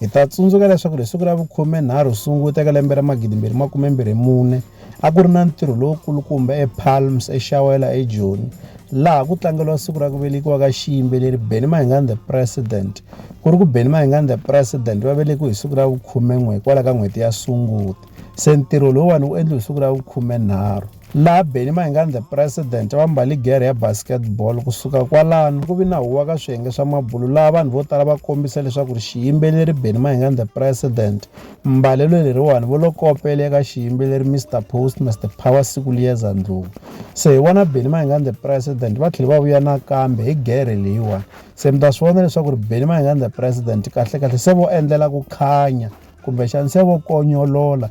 Hi ta tsundzuka leswaku hi siku ra vukhume-nharhu Sunguti eka lembe ra 2024 a ku ri na ntirho lowukulukumba ePalms eXawela eJoni laha ku tlangeriwa siku ra ku velekiwa ka xiyimbeleri Benny Mahingani the President. Ku ri ku Benny Mahingani the President va velekiwe hi siku ra vukhume-n'we hikwalaho ka n'hweti ya Sunguti. Se ntirho lowuwani wu endliwe hi siku ra vukhume-nharhu. laha Benni Mayengani the President va mbale gere ya basketball. Ku suka kwalano, ku vi na huwa ka swiyenge swa mabulo laha vanhu vo tala va kombisa leswaku ri xiyimbeleri Benni Mayengani the President, mbalelo leriwani vo lo kopele eka xiyimbeleri Mister Post Mister Power siku liyeza ndlhuvu. Se hi vona Benni Mayengani the President va tlhele va vuya nakambe hi gere leyiwani. Se mi ta swi vona leswaku ri Benni Mayengani the President kahle kahle se vo endlela ku khanya kumbexani se vo konyolola